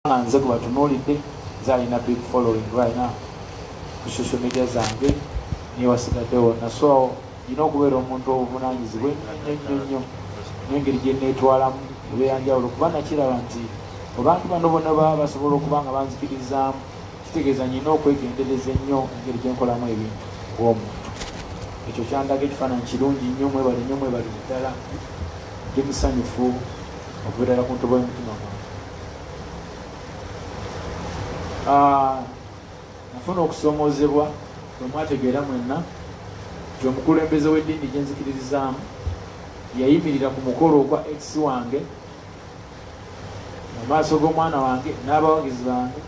nga nze gwebatunulidde nze alina big following right now ku social media zange niye wasigadde wonna so nina okubeera omuntu obuvunanyizibwa ennyo nnyo nengeri gyenetwalamu ebeyanjawulo kuba nakiraba nti abantu bano bona baba basobola okuba nga banzikirizaamu kitegeeza nyina okwegendereza ennyo engeri gyenkolamu ebintu ng'omuntu ekyo kyandaga ekifaananyi kirungi nnyo mwebali nnyo mwebali ddala ndi musanyufu okubeerala ku ntobo y'omutima gwange ah, nafuna okusomozebwa bwemwategeera mwenna nti omukulembeze w'eddiini gyenzikiririzaamu yayimirira ku mukolo ogwa ex wange mu maaso g'omwana wange n'abawagizi bange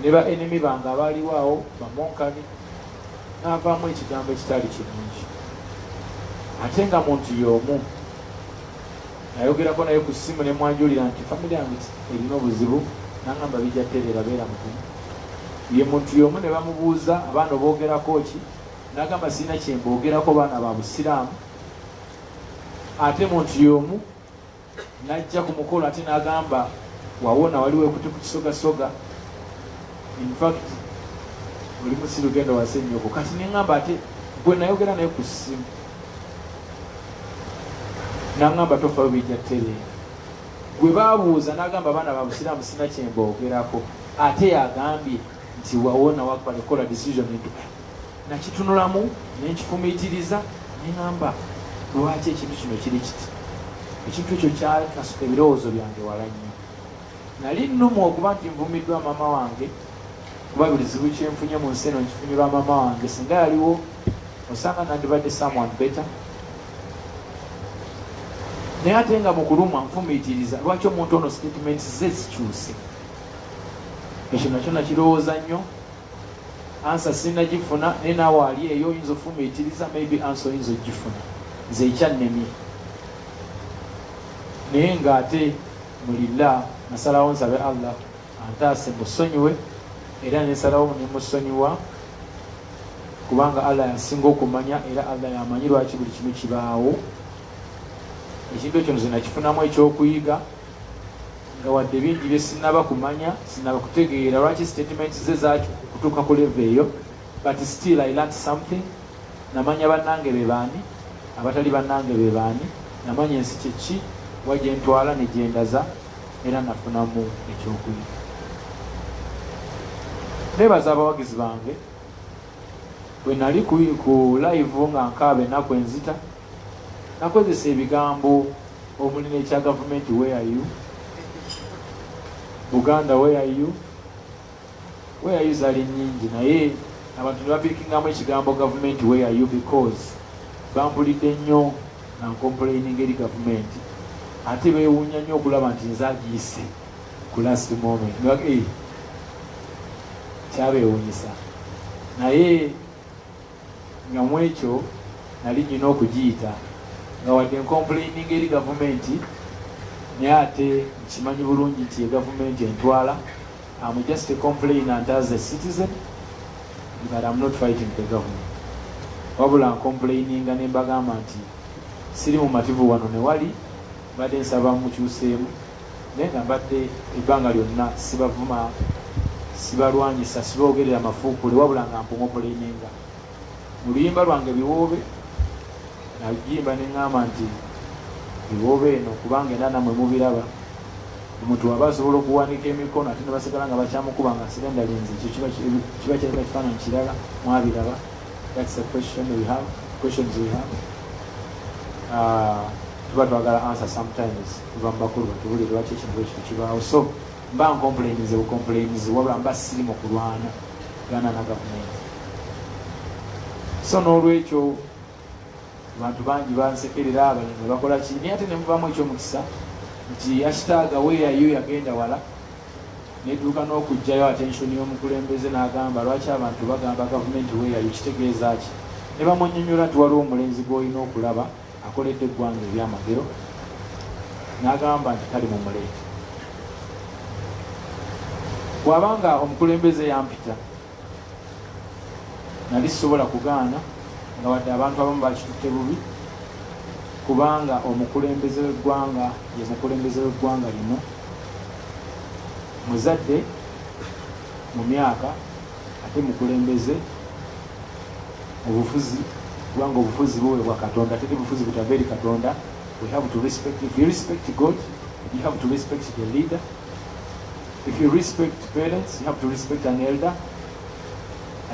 ne ba enemi bange abaaliwo awo bamonkani n'avaamu ekigambo ekitali kirungi ate nga muntu y'omu nayogerako naye ku ssimu ne mwanjulira nti famire yange erina obuzibu nangamba bijja tereera beera mukumu ye muntu yomu ne bamubuuza abaana oboogerako ki nagamba sirina kyemboogerako baana ba busiraamu ate muntu yomu najja ku mukolo ate nagamba wawona waliwo ekuti ku kisogasoga infact oli musiru genda wase nyoko kati nengamba ate gwe nayogera naye ku ssimu nangamba tofayo bijja kutereera gwe babuuza nagamba abaana babusiraamu sina kyemboogerako ate yagambye nti wawona wakuba nekola decision edu nakitunulamu nenkifumiitiriza nengamba lwaki ekintu kino kiri kiti ekintu ekyo kyakasuka ebirowoozo byange wala nnyo nali nnumu okuba nti nvumiddwa maama wange kuba buli zibu kyenfunye mu nsi eno nkifunye lwa mama wange singa yaliwo osanga nandibadde someone better naye ate nga mukulumwa nfumiitiriza lwaki omuntu ono statement ze zikyuse ekyo nakyo nakirowooza nnyo ansa sinagifuna naye naawe ali eyo oyinza ofumiitiriza maybe ansa oyinza ogifuna nze ekyannemye naye ng'ate mulila nasalawo nsabe allah antaase musonyiwe era nensalawo nemusonyiwa kubanga allah yasinga okumanya era allah yamanyi lwaki buli kimu kibaawo ekintu ekyo nze nakifunamu ekyokuyiga nga wadde bingi byesinaba kumanya sinaba kutegeera lwaki statement ze zakutuuka ku leve eyo but still i learnt something namanya bannange bebaani abatali bannange bebaani namanya ensi kyeki wajentwala nejendaza era nafunamu ekyokuyiga nebaza abawagizi bange bwenali ku live nga nkaaba enaku enzita nakozesa ebigambo omuli nekya gavumenti weyayu buganda weyayu Where are you zali nyingi naye abantu nebapikingamu ekigambo gavumenti where are you because bambulidde nnyo na nkompuleininga eri gavumenti ate bewuunya nnyo okulaba nti nze agiyise ku last moment eh, kyabewunyisa naye nga mu ekyo nali nyina okugiyita nga wadde nkompuleininga eri gavumenti naye ate nkimanyi bulungi nti ye gavumenti entwala I'm just a complainant as a citizen but I'm not fighting the government wabula nkomplaininga ne mbagamba nti siri mumativu wano newali mbadde nsaba mukyuseemu naye nga mbadde ebbanga lyonna sibavuma sibalwanyisa sibogerera mafuukule wabula nga mpumopulaininga mu luyimba lwange biwoobe nagimba neŋŋamba nti biwoobe eno kubanga era namwe mubiraba omuntu waba asobola okuwanika emikono ate nebasigala nga bakyamukuba nga sirendalinzi ekyo kiba kireka kifaananyi kirala mwabiraba thats the question we have questions we have ah, tuba twagala answer sometimes tuva mu bakulu batubulire lwaki ekintu ekyo kibaawo so mba nkompulaininze bukompulaininze wabula mba siri mu kulwana gana na gavumenti so n'olwekyo abantu bangi bansekerera abali ne bakola ki naye ate ne muvaamu ekyomukisa nti yasitaaga weyayo yagenda wala netuuka n'okugjayo atensioni y'omukulembeze n'agamba lwaki abantu bagamba gavumenti weyayo kitegeeza ki ne bamunyonyola nti waliwo omulenzi gw'olina okulaba akoledde eggwanga ebyamagero n'agamba nti kali mu muleeti bw'aba nga omukulembeze yampita nali sisobola kugaana nga wadde abantu abamu bakitutte bubi kubanga omukulembeze w'eggwanga ye mukulembeze w'eggwanga lino muzadde mu myaka ate mukulembeze mu bufuzi kubanga obufuzi buweebwa katonda tete bufuzi butava eri katonda we have to respect if you respect god you have to respect the leader if you respect parents you have to respect an elder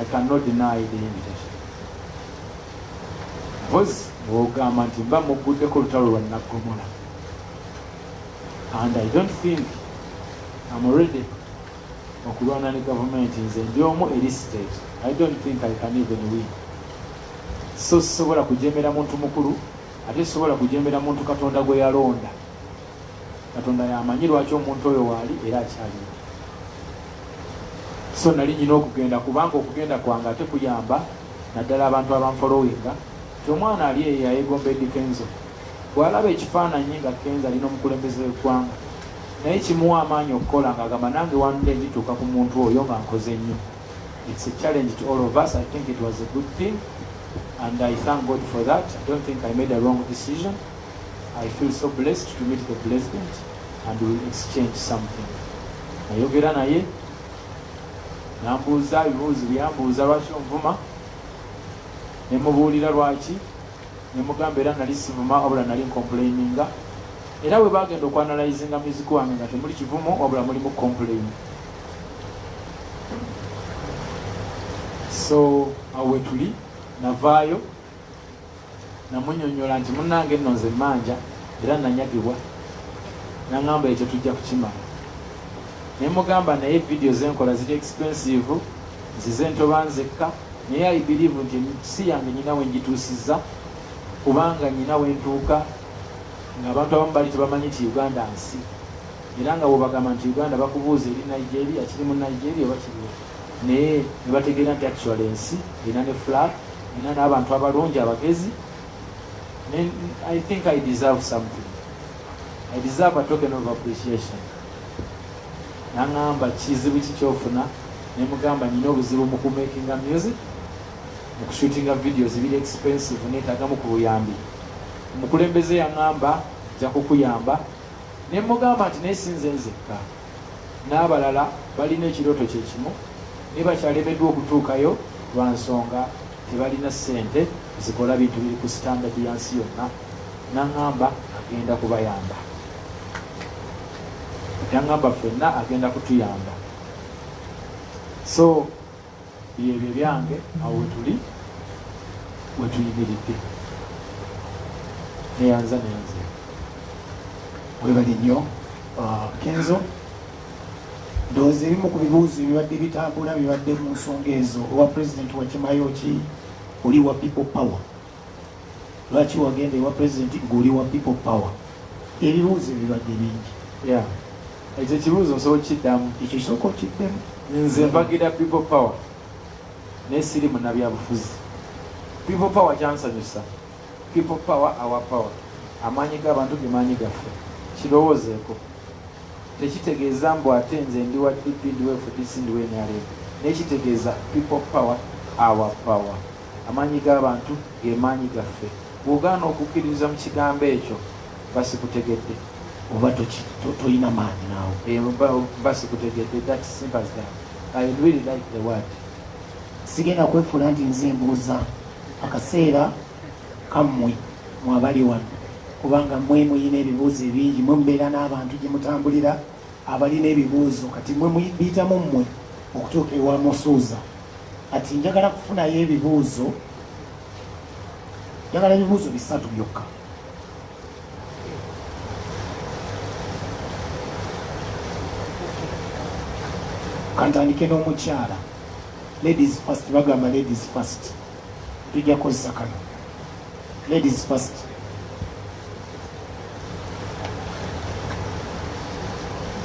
i cannot deny the invitation bos ogamba nti mba mugguddeko olutalo lwa naggomola and i don't think am already okulwana ne gavumenti nze ndi omu eri state i don't think i can even win so sisobola kujemera muntu mukulu ate sisobola kujemera muntu katonda gwe yalonda katonda yamanyi lwaki omuntu oyo waali era akyalina so nali nyina okugenda kubanga okugenda kwange ate kuyamba naddala abantu abanfolowinga ti omwana ali eyo yayegomba edikenzo Bw'alaba ekifaananyi nga Kenzo ali n'omukulembeze w'eggwanga naye kimuwa amaanyi okukola ng'agamba nange one day ndituuka ku muntu oyo nga nkoze nnyo. It's a challenge to all of us. I think it was a good thing and I thank God for that. I don't think I made a wrong decision. I feel so blessed to meet the president and we will exchange something. Nayogera naye nambuuza ebibuuzo byambuuza lwaki onvuma ne mubuulira lwaki ne mugamba era nali sivuma wabula nali nkompulayininga era bwe bagenda okwanalayizinga muziki wange nga temuli kivumo wabula mulimu kompulaini so awo wetuli navaayo namunyonyola nti munange nno nze manja era nanyagibwa naŋamba ekyo tujja kukimala naye mugamba naye vidiyo zenkola ziri expensive Nzize ntoba nzekka naye I believe nti si yange nyina wenjituusizza kubanga nyina wentuuka nga abantu abamu bali tebamanyi nti Uganda nsi era nga bwebagamba nti Uganda bakubuuza eri Nigeria kiri mu Nigeria oba kiriwo naye nebategeera nti actual ensi erina ne flag erina n'abantu abalungi abagezi I think I deserve something I deserve a token of appreciation Nangamba kizibu ki kyofuna nemugamba nina obuzibu mu kumakinga music mu kushootinga videos biri expensive netagamu ku buyambi. Omukulembeze yangamba nja kukuyamba nemugamba nti naye sinze nzekka n'abalala balina ekirooto kye kimu naye bakyalemeddwa okutuukayo lwa nsonga tebalina ssente zikola bintu biri ku sitandadi ya nsi yonna nangamba agenda kubayamba yangamba ffenna agenda kutuyamba so byebyo byange awo wetuli wetuyimiridde neyanza nenze webali nnyo uh, kenzo ndowooza ebimu ku bibuuzo bibadde bitambula bibadde mu nsonga ezo owa pulezidenti wakimayo ki oli wa people power lwaki wagenda ewa president ng'oli wa people power ebibuuzo ebibadde bingi ya ekyo ekibuuzo nsobola okukiddamu ekyo sooka okiddemu nze mpagira people power naye siri munabyabufuzi people power kyansanyusa people power our power amaanyi g'abantu ge maanyi gaffe kirowoozeeko tekitegeeza mbu ate nze ndi wa dp ndi wa fdc ndi wa nrm naye kitegeeza people power our power Amaanyi g'abantu ge maanyi gaffe. Bw'ogaana okukkiririza mu kigambo ekyo, mba sikutegedde. Oba tolina maanyi naawe. Eh, mba sikutegedde. That's simple as that. I really like the word. Sigenda kwefuula nti nze mbuuza akaseera kammwe mwabali wano kubanga mwe muyina ebibuuzo ebingi mwe mubeera n'abantu gye mutambulira abalina ebibuuzo kati mwe muyitamu mmwe okutuuka ewa musuuza kati njagala kufunayo ebibuuzo njagala ebibuuzo bisatu byokka kantandike n'omukyala ladies first bagamba ladies first tujja kukozesa kano ladies first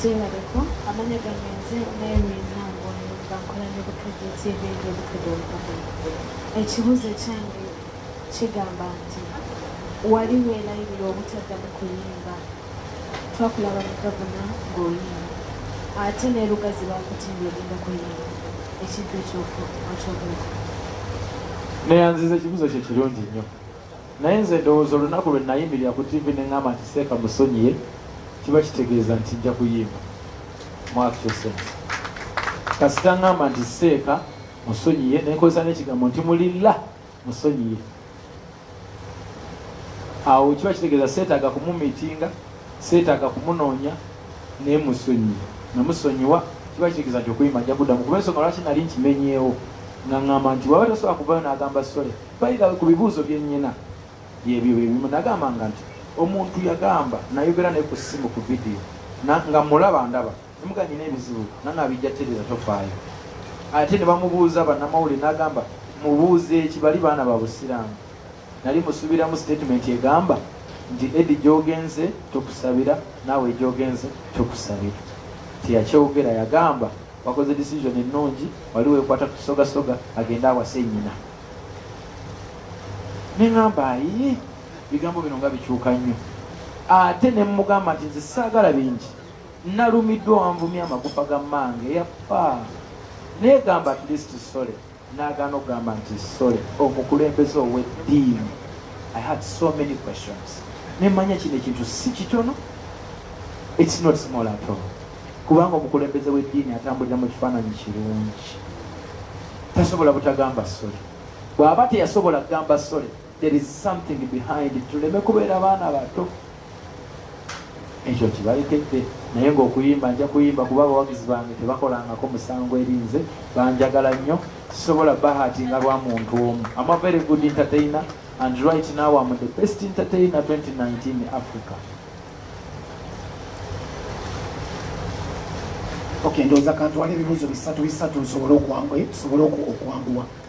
gyebaleko amanya gange nze nayewinango bakola ne butujju tv ngebutujju obukoko ekibuuzo kyange kigamba nti wali weelayirira obutaddamu kuyimba twakulaba mugabuna ng'oyimba ate ne lugazi bakutimbye ogenda kuyimba ekintu ekyokyogulako naye nziza ekibuzo kye kirungi nnyo naye nze ndowooza olunaku lwe nayimirira ku tivi ne ŋŋamba nti seeka musonyiye kiba kitegeeza nti nja kuyimba mwakyosense kasita ŋŋamba nti seeka musonyiye nenkozesa n'ekigambo nti mulilla musonyiye awo kiba kitegeeza seetaaga kumumitinga seetaaga kumunoonya naye musonyiye namusonyiwa kiba kitegeeza nti okuyima ajja kuddamu kuba ensonga lwaki nali nkimenyeewo nga ŋŋamba nti waba tasobola kuvayo n'agamba sole bayira ku bibuuzo bye nnyina byebyo byebimu nagambanga nti omuntu yagamba nayogera naye ku ssimu ku vidiyo nga mulaba ndaba Emuga nyina ebizibu nana abijja tereza tofaayo ate ne bamubuuza bannamawulire n'agamba mubuuze eki bali baana ba busiraamu nali musuubiramu sitatimenti egamba nti edi gyogenze tukusabira naawe egyogenze tukusabira teyakyogera yagamba wakoze decision ennungi wali wekwata kusogasoga agende awase nyina neŋamba ayi bigambo bino nga bikyuka nnyo ate nemugamba nti nze saagala bingi Nalumiddwa wanvumye amagufa ga mmange yaffa neegamba at least sole naagaana okugamba nti sole omukulembeze ow'eddiini i had so many questions nemanya kino ekintu si kitono its not small at all kubanga omukulembeze w'eddiini atambulira mu kifaananyi kirungi tasobola butagamba sole bw'aba teyasobola kugamba sole there is something behind it tuleme kubeera baana bato ekyo kibalekedde naye ngaokuyimba nja kuyimba kuba abawagizi bange tebakolangako musango erinze banjagala nnyo sisobola bahati nga lwa muntu omu ama very good entertainer and right now am the best entertainer 2019 africa okay ndowooza kantwala ebibuuzo bisatu bisatu nsobole okwanguwa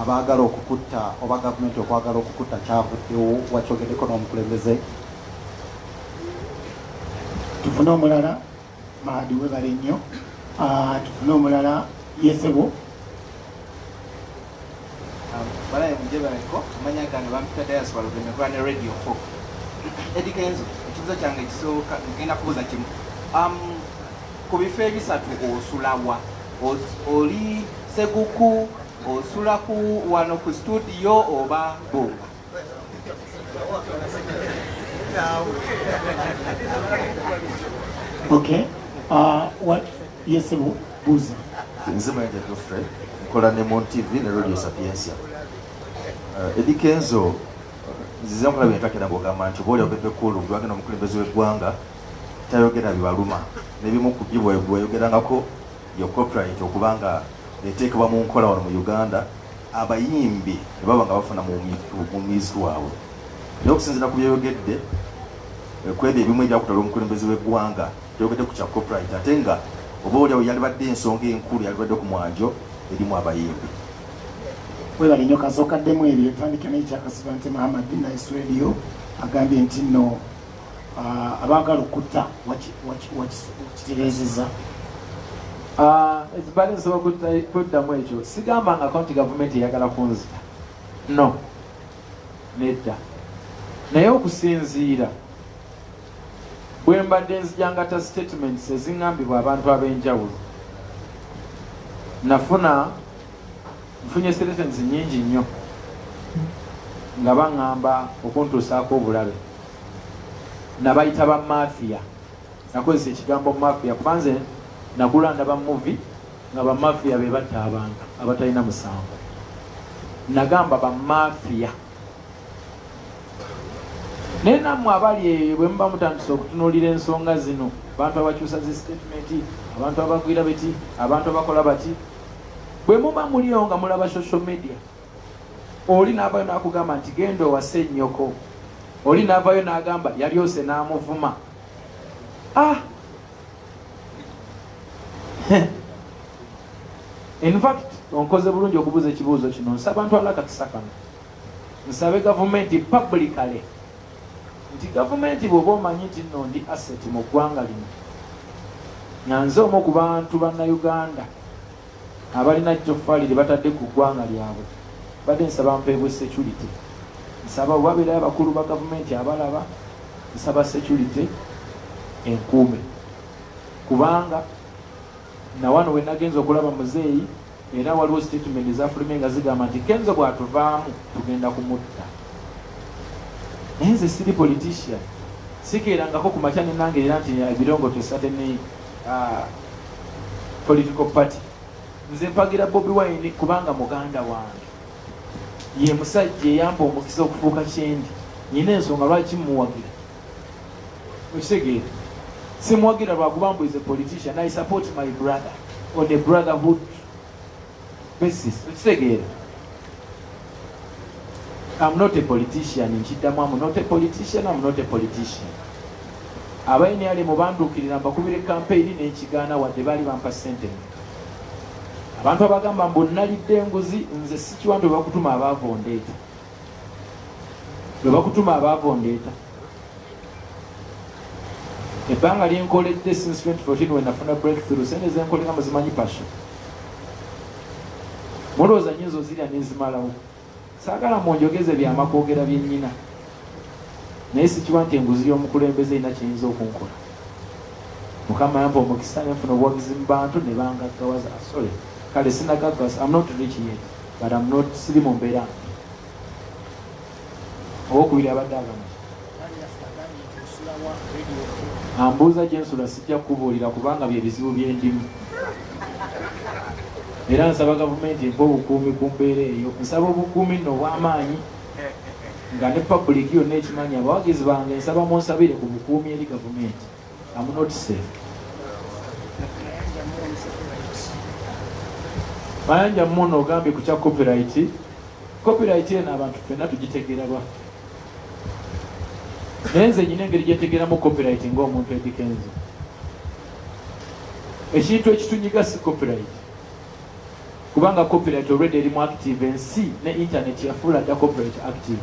abaagala okukutta oba gavumenti okwagala okukutta kyavuddewo wakyogeddeko n'omukulembeze tufune omulala maadi webale nnyo ah, tufune omulala yesebo ah, balaye mujebaleko amanya gano bampita diaspora lugemekola ne radio fo edikenzo ekibuzo kyange ekisooka ngenda kubuuza kimu um, ku bifo ebisatu osulawa oli seguku osula ku wano ku studio oba bunga okay uh, what yes buzi nze mayanja geoffrey nkola ne mon tv ne radio sapiensia uh, edi kenzo nzize nkulaba entakera ng'ogamba nti oba oli obebe kulu gwe agenda omukulembeze w'eggwanga tayogera bibaluma nebimu ku byo bweyogerangako yo copyright okuba nga eteekebwa mu nkola wano mu uganda abayimbi ne baba nga bafuna mu muziki waabwe naye okusinzira ku byoyogedde eh, kwebyo ebimu ebyakutala omukulembeze w'eggwanga byogedde ku kya copyright ate nga oba olyawo yalibadde ensonga enkulu yalibadde ku mwanjo erimu abayimbi webale nyo kasookaddemu ebyo tandika nekyakasiba nte mahamad nice radio agambye nti no Ah, abaagala okutta wakitereezeza ah, ekibali nsobola kuddamu ekyo sigambangako nti gavumenti eyagala kunzita no nedda naye okusinziira bwe mbadde nzijangata statements eziŋambibwa abantu ab'enjawulo nafuna nfunye statements nyingi nnyo nga baŋŋamba okuntuusaako obulabe nabayita ba mafia nakozesa ekigambo mafia kubanze nagula ndaba muvi nga bamafia be batta abantu abatalina musango nagamba bamafia naye namwe abali eyo bwe muba mutandisa okutunuulira ensonga zino abantu abakyusa zi sitatimenti abantu abagwira beti abantu abakola bati bwe muba muliyo nga mulaba social media oli n'avayo n'akugamba nti genda owase nnyoko oli n'avayo n'agamba yalyose n'amuvuma ah in fact onkoze bulungi okubuuza ekibuuzo kino nsaba ntwala akakisa kano nsabe gavumenti publicale nti gavumenti bw'oba omanyi nti nno ndi asset mu ggwanga lino nyanze omu ku bantu bannauganda abalina ttoffaali lye batadde ku ggwanga lyabwe badde nsaba mpeebwe security nsaba obabeerayo abakulu ba gavumenti abalaba nsaba security enkuume kubanga nawano we nagenza okulaba muzeeyi era waliwo statement ezafulume nga zigamba nti kenzo bwatuvaamu tugenda kumutta naye nze siri politician sikeerangako ku makya nenange era nti ebirongotesa teneyi ah, political party nze mpagira bobi wine kubanga muganda wange ye musajja eyamba omukisa okufuuka kyendi nyina ensonga lwaki mumuwagira okitegeera simuwagira lwakuba mbuize politician i support my brother on a brotherhood basis ekitegeera am not a politician nkiddamu am not a politician am not a politician abainali mubanduukirira mbakubire kampeyini nekigaana wadde baali bampa sente abantu abagamba mbu nalidde enguzi nze sikiwantu bakutuma abaavu ondeeta lwe bakutuma abaavu ondeeta ebbanga lyenkoledde since 2014 wenafuna breakthrough sente zenkolela muzimanyi passion mulowooza nyinza ozirya nezimalawo saagala munjogeze byama kwogera byenyina naye sikiba nti enguzi y'omukulembeze erina kiyinza okunkola mukama yampa omukisa nenfuna obuwagizi mu bantu ne bangaggawaza asole kale sinagaggas am not rich yet but am not siri mu mbeera owokubiri abadde agamba ambuuza gyensula sijja kukubuulira kubanga bye bizibu byendimu era nsaba gavumenti empa obukuumi ku mbeera eyo nsaba obukuumi nno obw'amaanyi nga ne pabuliiki yonna ekimanyi abawagizi bange nsaba munsabire ku bukuumi eri gavumenti I'm not safe. Mayanja mmono ogambye ku kya copyright. Copyright eno abantu ffenna tugitegeera lwaffe. Naye nze nyina engeri gye ntegeeramu copyright ng'omuntu edikenzi. Ekintu ekitunyiga si copyright. Kubanga copyright already eri mu active ensi ne internet yafuula dda copyright active.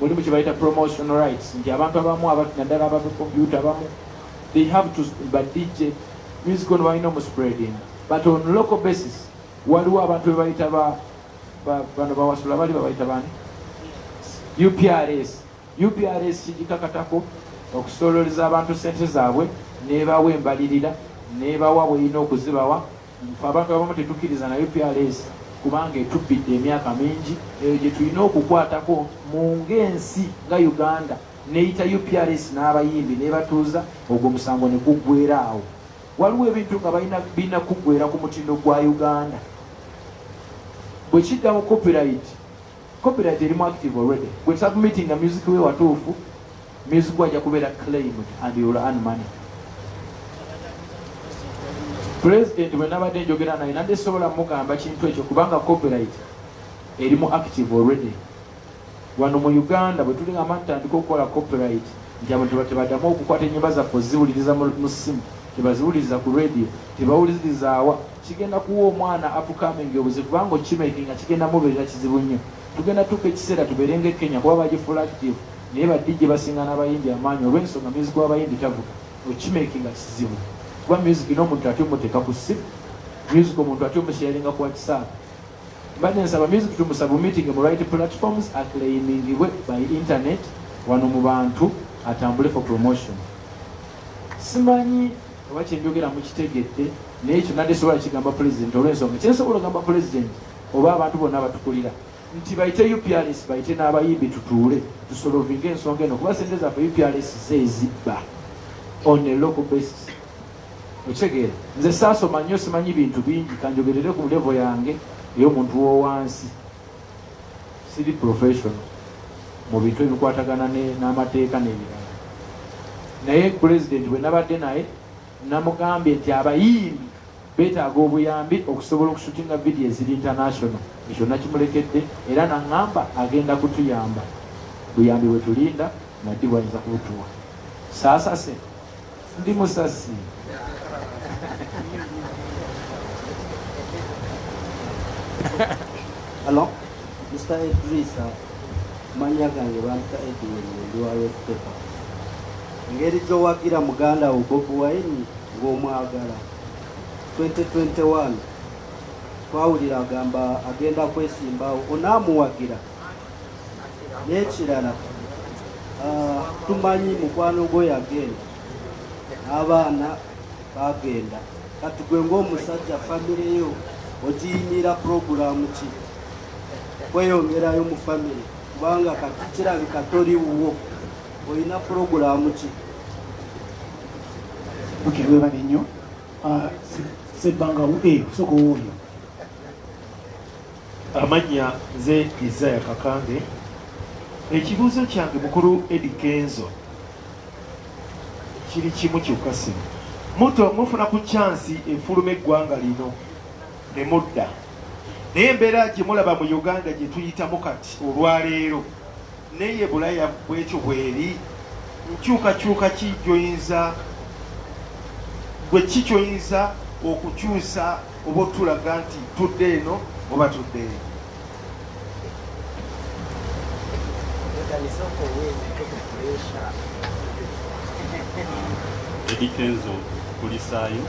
mulimu kyebayita promotion rights nti abantu abamu naddala aba computer abamu they have to ba dj music ono balina omuspreading but on local basis waliwo abantu bebayita bano bawasula bali babayita bani uprs uprs kigikakatako okusololeza abantu sente zaabwe nebawa embalirira nebawa bweyina okuzibawa Ffe abantu abamu tetukkiriza na UPRS kubanga etubbidde emyaka mingi, eyo gye tulina okukwatako mu ng'ensi nga Uganda neyita UPRS n'abayimbi nebatuuza ogwo musango ne guggwera awo. Waliwo ebintu nga balina birina kuggwera ku mutindo gwa Uganda. Bwe kidda mu copyright Copyright erimu active already. Gwe submitting a music we watuufu, music waja kubera claimed and you will earn money. President bwe nabadde njogera naye nande sobola mugamba kintu ekyo kubanga copyright erimu active already. Wano mu Uganda bwe tuli nga matandika okukola copyright nti abantu batebadamu okukwata enyimba zaffe oziwuliriza mu simu tebaziwuliriza ku radio tebawuliziriza awa Kigenda kuwa omwana upcoming obuzibu kubanga okimakinga kigenda mubeerera kizibu nnyo. Tugenda tuuka ekiseera tubeere nga e Kenya kuba bagifuula active naye ba DJ basinga n'abayimbi amaanyi olw'ensonga music w'abayimbi tavuga okimakinga kizibu kuba music n'omuntu ate omuteeka ku ssimu music omuntu ate omusharinga ku whatsapp mbadde nsaba music tumusabumitinge mu right platforms aclaimingibwe by internet wano mu bantu atambule for promotion simanyi oba kyenjogera mukitegedde naye ekyo nadde sobola kigamba pulezidenti olwensonga kyensobola ogamba pulezidenti oba abantu bonna abatukulira nti bayite uprs bayite n'abayimbi tutuule tusolovinga ensonga eno kuba sente zaffe uprs zezibba on a local basis okitegeera nze saasoma nnyo simanyi bintu bingi kanjogerere ku levo yange ey'omuntu wowansi Siri professional mu bintu ebikwatagana n'amateeka n'ebirala, naye pulezidenti bwe nabadde naye namugambye nti abayimbi beetaaga obuyambi okusobola okusutinga vidiyo eziri international. Ekyo nakimulekedde era naŋŋamba agenda kutuyamba. Buyambi bwe tulinda na ddi bw'ayinza kubutuwa. Saasase. ndi musasi Hello, Mr. Edrisa, manya gange bampita Edwin ndi wa Red Pepper. Ngeri gy'owagira muganda wo Bob Wine ng'omwagala 2021 twawulira agamba agenda kwesimbawo onaamuwagira n'ekirala ah, tumanyi mukwano gwo yagenda n'abaana bagenda kati gwe ng'omusajja famire yo ogiyimira puroguramu ki kweyongerayo mu famire kubanga kati kirabika tori wuwo olina puroguramu ki okay webale nnyo ah, sebbanga eh, sooka owooyo Amannya nze Isaya Kakange. Ekibuuzo kyange mukulu Eddie Kenzo kiri kimu kyokka sino muto mufuna ku kyansi efuluma eggwanga lino ne mudda naye embeera gye mulaba mu Uganda gye tuyitamu kati olwaleero neye bulaya bwekyo bweri nkyukakyuka ki gyoyinza gwe ki kyoyinza okukyusa oba otulaga nti tudde eno oba tudde eno edikenzo kulisaayo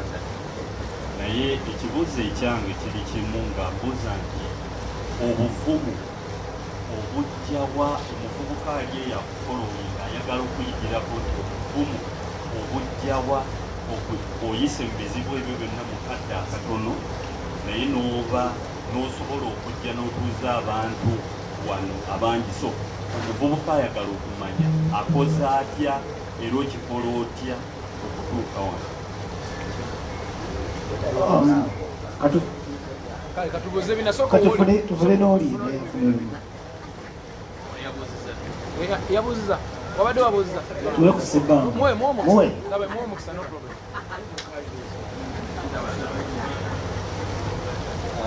naye ekibuuzo ekyange kiri kimu nga mbuuza nti obuvumu Obujja wa omuvubuka ali eyo akufolowe nga ayagala okuyigirako nti obuvumu obujja wa oyise mu bizibu ebyo byonna mu kadde akatono naye n'oba n'osobola okujja n'otuuza abantu wano abangi so omuvubuka ayagala okumanya akoze atya era okikola otya okutuuka wano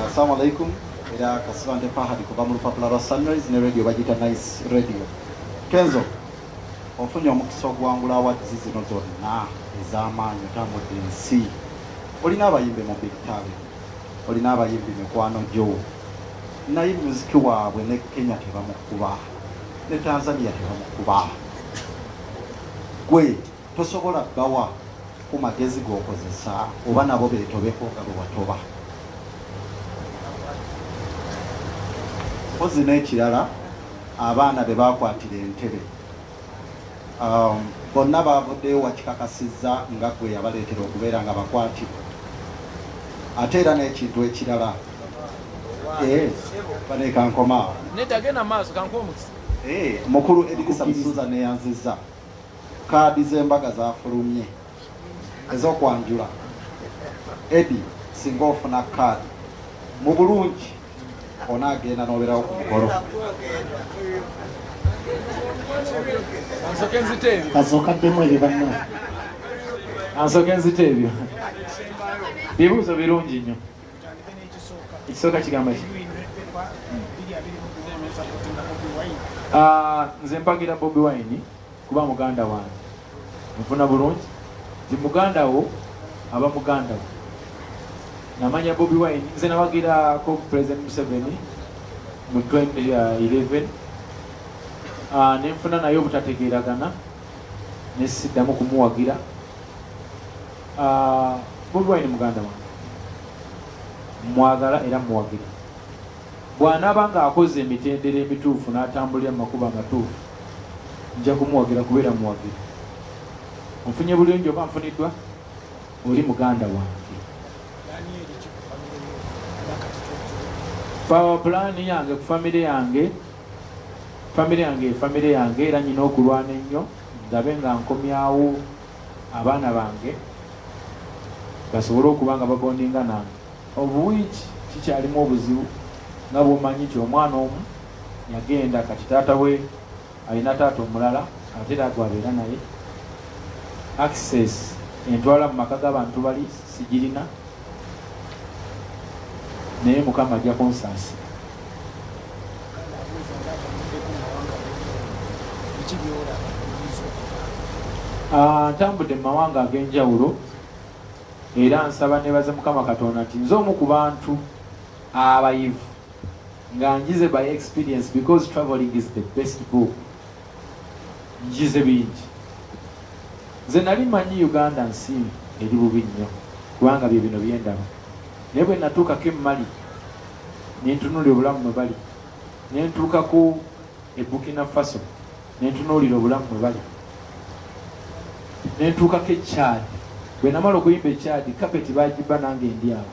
Assalamu alaikum. Era kasibande pahadi kuva mu lupapula lwa Sunrise ne radio bagiyita Nice Radio. Kenzo, ofunye omukisa okuwangula awadzi zino zonna ez'amaanyi otambudde ensi. Olina abayimbi mu big talent. olina abayimbi mikwano gyo naye muziki waabwe ne kenya tebamukuba ne tanzania tebamukuba gwe tosobola bawa ku magezi gokozesa oba nabo betobeko nga bwewatoba ozi n'ekirala abaana bebakwatira entebe Um, bonna baavuddeyo wakikakasizza nga gwe yabaleetera okubeera nga bakwati ate era n'ekintu ekirala eh, banekankomaawo eh, mukulu edikisa musuza neyanziza kaadi z'embaga zafulumye ez'okwanjula edi singa ofuna kaadi mu bulungi onaagenda n'obeerawo ku mukolo kasokaddemu ebyo banna ansoke nzite ebyo bibuuzo birungi nnyo ekisooka kigamba ki ah, nze mpagira bobi wine kuba muganda wange nfuna bulungi nti muganda wo aba muganda wo namanya bobi wine nze nawagirako president museveni mu 2011 ah, nenfuna naye obutategeragana nesiddamu kumuwagira ah, bobi wine muganda wange mwagala era muwagira Bw'anaaba ng'akoze emitendera emituufu n'atambulira mu makubo amatuufu, nja kumuwagira kubeera muwagizi. Onfunye bulungi oba nfuniddwa? Oli muganda wange. Power plan yange ku famire yange famire yange efamire yange era nyina okulwana ennyo ndabe nga nkomyawo abaana bange basobole okuba nga babondinga nange obuwiiki kikyalimu obuzibu nga bwomanyi nti omwana omu yagenda kati taata we alina taata omulala ate era gwabeera naye access entwala mu maka g'abantu bali sigirina naye mukama ajja kunsansi ah, ntambudde mu mawanga ag'enjawulo Era nsaba nebaze mukama katonda nti nze omu ku bantu abayivu nga njize by experience because traveling is the best book njize bingi nze nali manyi uganda nsi eri bubi nnyo kubanga bye bino byendaba naye bwe natuukako emmali nentunuli obulamu mwe bali nentuukaku ebukina faso nentunuulira obulamu mwe bali nentuukako ekyadi bwe namala okuyimba ekyadi kapeti bagiba nange ndi awo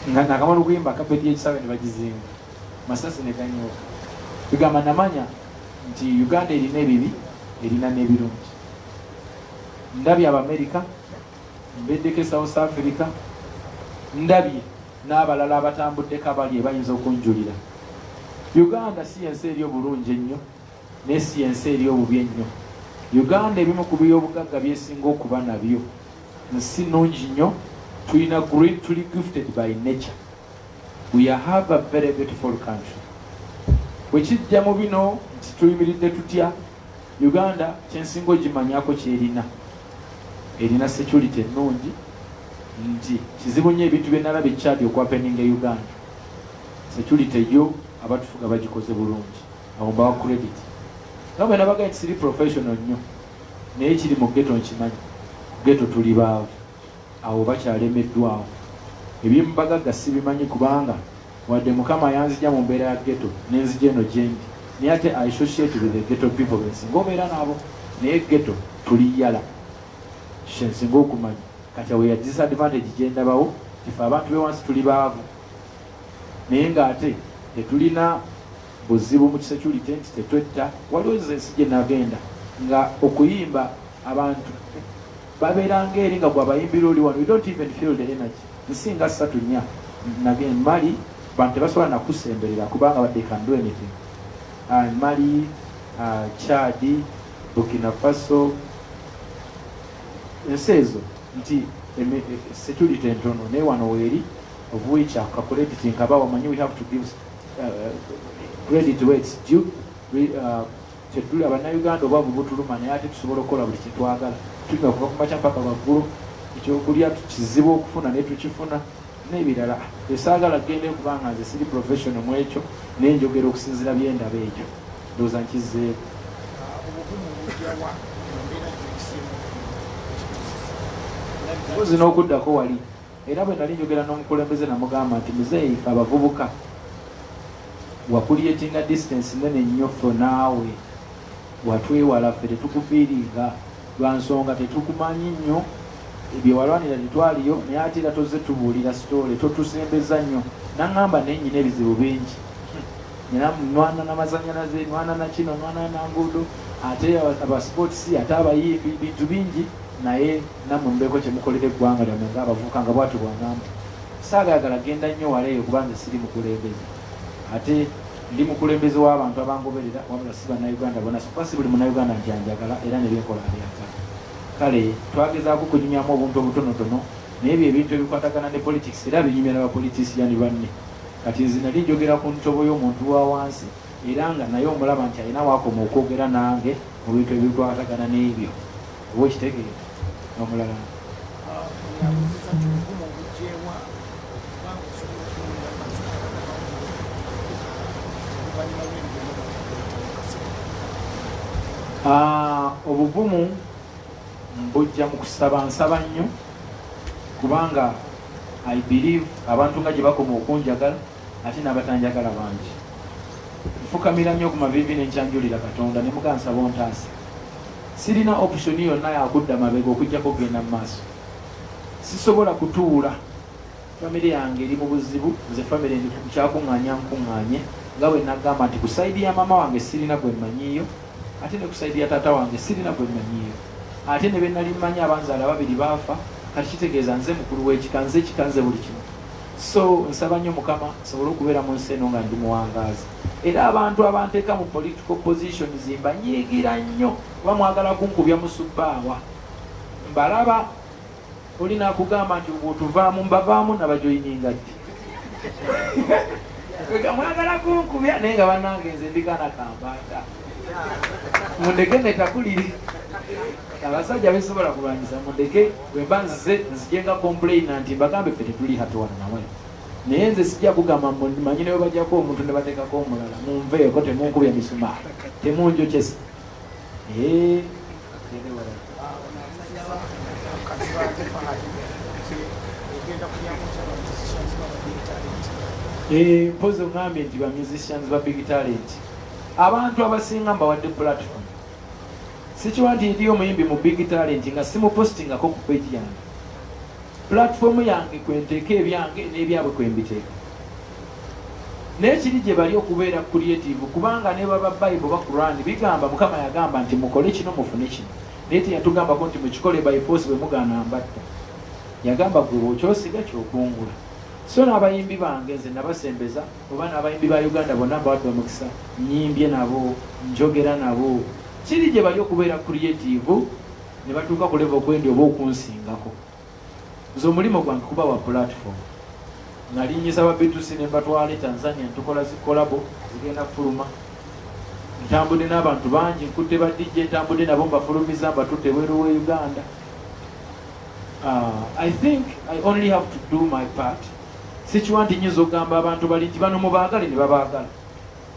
nga nakamala okuyimba kapeti yekisawe ne bagizimba masasi ne ganyooka bigamba namanya nti uganda erina ebibi erina n'ebirungi ndabye abamerika mbeddeko e south africa ndabye n'abalala abatambuddeko abali ebayinza okunjulira uganda si yensi eri obulungi ennyo naye si yensi eri obubi ennyo uganda ebimu ku byobugagga byesinga okuba nabyo nsi nungi nnyo tulina great tuli gifted by nature we have a very beautiful country bwekijja mu bino nti tuyimiridde tutya Uganda kyensinga ogimanyako kyerina erina security ennungi nti kizibu nnyo ebintu byenalaba ekyadi okwapeninga e Uganda security yo abatufuga bagikoze bulungi abo mbawa credit nga bwe nabaga nti siri professional nnyo naye kiri mu geto nkimanyi geto tuli baavu awo bakyalemeddwawo ebyemubagagga sibimanyi kubanga Wadde mukama yanzija mu mbeera ya ghetto nenzija eno jendi naye ate I associate with the ghetto people bensinga obeera nabo naye ghetto tuli yala kyensinga okumanya kati awo ya disadvantage gyendabawo tife abantu bewansi tuli baavu naye nga ate tetulina buzibu mu kisecurity nti tetwetta waliwo ensi gyenagenda nga okuyimba abantu baberanga eri nga gwabayimbira oli wano you don't even feel the energy nsinga satu nya nage mali bantu tebasobola nakusemberera kubanga they can do anything uh, mali uh, chadi burkina faso ensi ezo nti e, security entono naye wano weeri of which akakurediti nkaba wamanyi we have to give uh, credit where it's due we, uh, Kyetuli abanauganda obwavu butuluma naye ate tusobola okukola buli kyetwagala tunywa kuva kumakya mpaka waggulu ekyokulya kizibu okufuna naye tukifuna nebirala esagala kugenda ekuba nga nze siri professional mu ekyo naye njogera okusinzira byendaba ekyo ndowooza nkizeeko mpozi n'okuddako wali Era bwe nali njogera n'omukulembeze namugamba nti muzeeyi fe abavubuka wakuliyetinga distance nene nnyo ffe naawe watwewala ffe tetukufiiringa lwa nsonga tetukumanyi nnyo byewalwanira tetwaliyo naye ate era tozze tubuulira sitoole totusembeza nnyo naŋŋamba naye nyina ebizibu bingi era nwana namazanyalaze nwana nakino nwana nanguudo ate abasports ate abayimbi bintu bingi naye Nammwe mubeeko kye mukolera eggwanga lyammwe ng'abavubuka, nga bwatyo bw'agamba. Ssaagayagala genda nnyo wala eyo kuba nze siri mukulembeze. Ate ndi mukulembeze w'abantu abangoberera wabula si Bannayuganda bona so kuba si buli Munnayuganda nti anjagala era ne byenkola abyagala. Kale twagezaako okunyumyamu obuntu obutonotono naye bye bintu ebikwatagana ne politics era binyumya na bapolitisiyani banne. Kati nze nali njogera ku ntobo y'omuntu wa wansi era nga naye omulaba nti alina waakoma okwogera nange mu bintu ebikwatagana n'ebyo. oba okitegere nomulala ah, obuvumu mbujja mu kusaba nsaba nnyo kubanga i believe abantu nga gye bakoma okunjagala ate n'abatanjagala bangi. Nfukamira nnyo ku maviivi ne nkyanjulira Katonda ne muga nsaba ontaase. Sirina opusoni yonna ya kudda mabega okuggyako okugenda mu maaso. Sisobola kutuula, famire yange eri mu buzibu, nze famire ndi ku kyakuŋŋaanya nkuŋŋaanye nga bwe nagamba nti ku sayidi ya maama wange sirina gwe mmanyiiyo ate ne ku sayidi ya taata wange sirina gwe mmanyiiyo ate ne be nali mmanyi abanzaala babiri baafa kati kitegeeza nze mukulu w'ekika nze ekika nze buli kimu so nsaba nnyo mukama nsobole okubeera mu nsi eno nga ndi muwangaazi era abantu abanteeka mu political position zimba nyiigira nnyo kuba mwagala kunkubya musubbaawa mbalaba olina akugamba nti otuvaamu mbavaamu nabajoyininga ddi mwagala kunkubya naye nga banange nze ndigana kambaata mundeke netakuliri abasajja besobola kulwanyisa mundeke Bwemba nzize nzije nga complaina nti mbagambe ffe tetuli happy wano namwe naye nze sijja kugamba manyi nawe bajjako omuntu ne bateekako omulala munveeko temunkubya misumaa temunjokyesa eh. eh, mpozi ogambye nti ba musicians ba big talent abantu abasinga mbawadde platform sikiwa nti ndiyo omuyimbi mu big talent nga simupostingako ku peji yange pulatifomu yange kwenteeka ebyange n'ebyabwe kwembiteeka naye kiri gye bali okubeera creative kubanga ne baba bible ba quran bigamba mukama yagamba nti mukole kino mufune kino naye teyatugambako nti mukikole by force bwe mugaana mbatta yagamba gwe okyosiga kyokungula so n'abayimbi bange nze nabasembeza Oba n'abayimbi ba Uganda bonna mbawadde omukisa. Nnyimbye nabo, njogera nabo. Kiri gye bali okubeera creative ne batuuka ku level kwendi oba okunsingako. Nze omulimo gwange kubawa platform. Nalinnyisa ba Beatrice ne mbatwala e Tanzania ne tukola zi kolabo zigenda kufuluma. Ntambudde n'abantu bangi, nkutte ba DJ ntambudde nabo mbafulumizza mbatutte ebweru w'e Uganda. I think I only have to do my part. sikiwa nti nyinza okugamba abantu bali nti bano mubaagale ne babaagala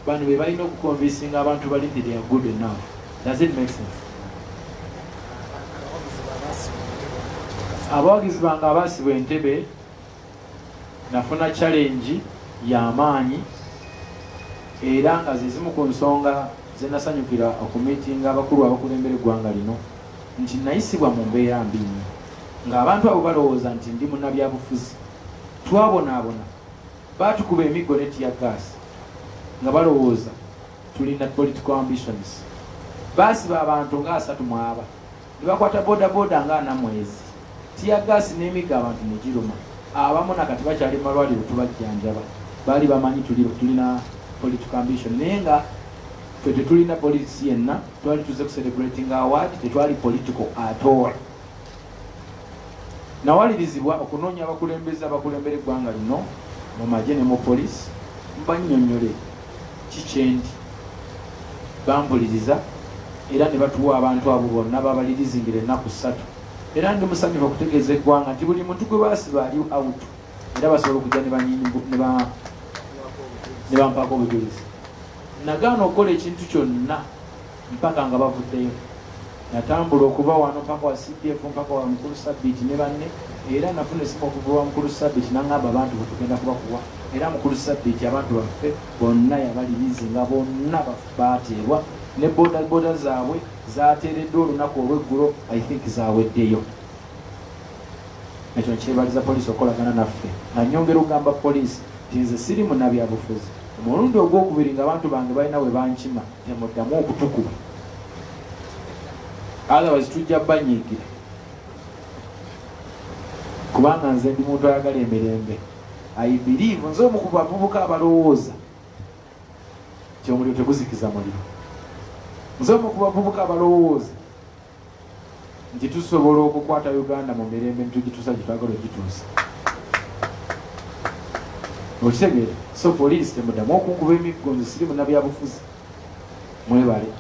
bano be balina okukonvinsinga abantu bali nti they are good enough does it make sense abawagizi bange abaasibwa entebe nafuna challenge yamaanyi era nga zezimu ku nsonga zenasanyukira okumitinga abakulu abakulembera eggwanga lino nti nnayisibwa mu mbeera mbi nnyo ng'abantu abo balowooza nti ndi munnabyabufuzi. Twabonaabona, baatukuba emiggo ne ttiyaggaasi nga balowooza tulina political ambitions. Baasiba abantu nga asatu mu aba ne bakwata bodaboda nga ana mwezi. Ttiyaggaasi n'emiggo abantu ne giruma. Abamu na kati bakyali mu malwaliro tubajjanjaba. Baali bamanyi tulina political ambition naye nga ffe tetulina politisi yenna. twali tuze kucelebrating award tetwali political atol nawalirizibwa okunoonya abakulembeze abakulembera eggwanga lino mu magye ne mu polisi mbanyonyole kikyendi bambuliriza era ne batuwa abantu abo bonna babalirizingira ennaku ssatu era ndi musanyufu okutegeeza eggwanga nti buli muntu gwe basiba ali out era basobola okujja ne bampaako obujulizi Nagaana okukola ekintu kyonna mpaka nga bavuddeyo. Natambula okuva wano mpaka wa CDF mpaka wa mukulu Sabiiti ne banne era nafuna esimu okuva wa mukulu Sabiiti nangamba abantu bwetugenda kuba kuwa era mukulu Sabiiti abantu baffe bonna yabalirizi nga bonna baateebwa ne bodaboda zaabwe zaateereddwa olunaku olw'eggulo I think zaweddeyo. ekyo nkyebaliza poliisi okukolagana naffe nga nyongera okugamba poliisi nti nze siri munabyabufuzi omulundi ogwokubiri nga abantu bange balina we bankima temuddamu okutukuba otherwise tujja banyiigira kubanga nze ndi muntu ayagala emirembe aibiriivu nze omu ku bavubuka abalowooza ti omuliro teguzikiza muliro nze omu ku bavubuka abalowooza nti tusobola okukwata uganda mu mirembe netugituusa gyetwagala ogituusa okitegeera so poliisi temudamu okunkuba emiggo nze siri munabyabufuzi mwebale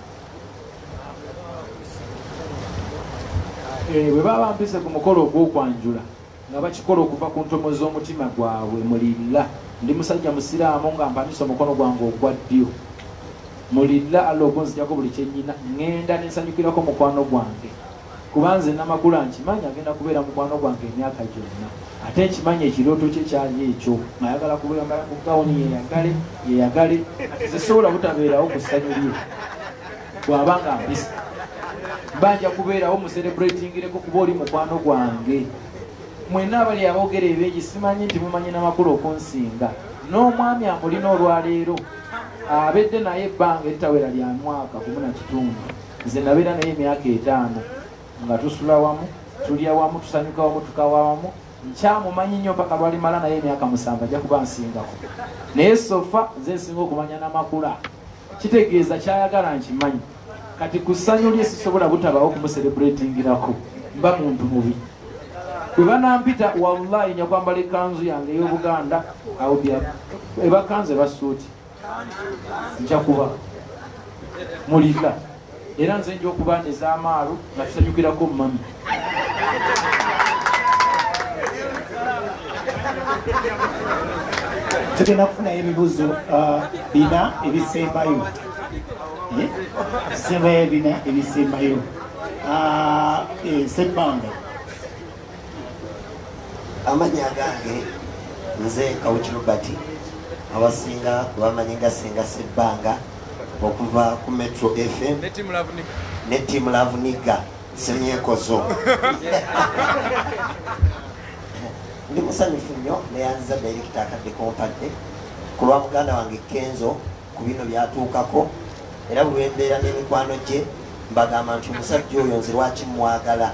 eh, bwe baba mpise ku mukolo ogwokwanjula nga bakikola okuva ku ntomo z'omutima gwabwe mulilla ndi musajja musiraamu nga mpanise omukono gwange ogwa ddyo mulilla alla okunzijako buli kyenyina ŋŋenda nensanyukirako mukwano gwange kuba nze namakula nkimanyi agenda kubeera mukwano gwange emyaka gyonna ate nkimanyi ekirooto kye kyali ekyo ngayagala kubuyambala ku gawuni yeyagale yeyagale zisobola butabeerawo ku ssanyu lye bwaba nga mpisa mba nja kubeerawo muserebretingireko kuba oli mukwano gwange mwena abali abogera ebingi simanyi nti mumanyi namakulu okunsinga n'omwami amulina olwaleero abedde naye ebbanga eritawera lya mwaka gumu na kitundu nze nabeera naye emyaka etaano nga tusula wamu tulya wamu tusanyuka wamu tukawa wamu nkyamumanyi nnyo mpaka lwalimala naye emyaka musanvu ajja kuba nsingako naye sofa nze nsinga okumanya namakula kitegeeza kyayagala nkimanyi kati ku ssanyu lye sisobola butabawo kumuserebulatingirako mba muntu mubi bwe banampita wallahi nyakwambala ekanzu yange ey'obuganda ebakanzu ebasuuti njakuba mulika era nze nja okuba ez'amaalu nga tusanyukirako mummy tugenda kufunayo ebibuzo uh, bina ebisembayo eh? sembayo bina ebisembayo uh, eh, sebbanga amanya gange nze kawukirobati abasinga bamanye nga senga sebbanga okuva ku metro fm ne timu lavuniga semyekozo ndi musanyufu nnyo neyanziza direkita akadde kompadde ku lwa muganda wange kenzo ku bino byatuukako era bulwembeera n'emikwano gye mbagamba nti omusajja oyo nze lwaki mwagala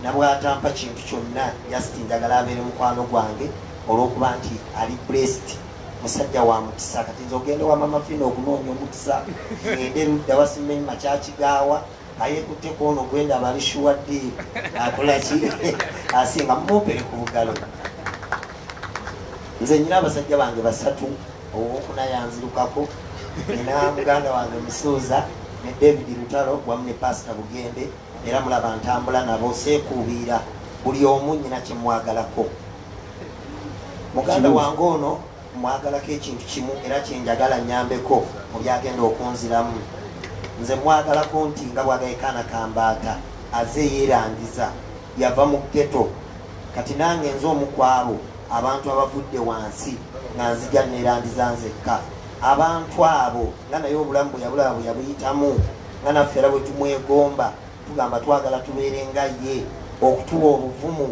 nabwatampa kintu kyonna yasitinjagala abeere mukwano gwange olwokuba nti ali blessed musajja wa mukisa kati nze ogende wa mama fina okunoonya omukisa ngende ludda wasimanyi makyakigaawa ayekutte kwono gwenda abali shuwa diiru akolaki asinga mumupere ku bugalo nze nyina abasajja bange basatu owokuna yanzirukako nina muganda wange musuuza ne david lutalo wamu ne pasita bugembe era mulaba ntambula nabo seekuubiira buli omu nyina kyemwagalako muganda wange ono mwagalako ekintu kimu era kyenjagala nyambeko mu byagenda okunziramu nze mwagalako nti nga bwagayekaana kambaata aze yeerangiza yava mu geto kati nange nze omukwabo abantu abavudde wansi nga nzija neerandiza nzekka abantu abo nga naye obulamu bweyabulaba bweyabuyitamu nga naffe era bwetumwegomba tugamba twagala tubeere nga ye okutuwa obuvumu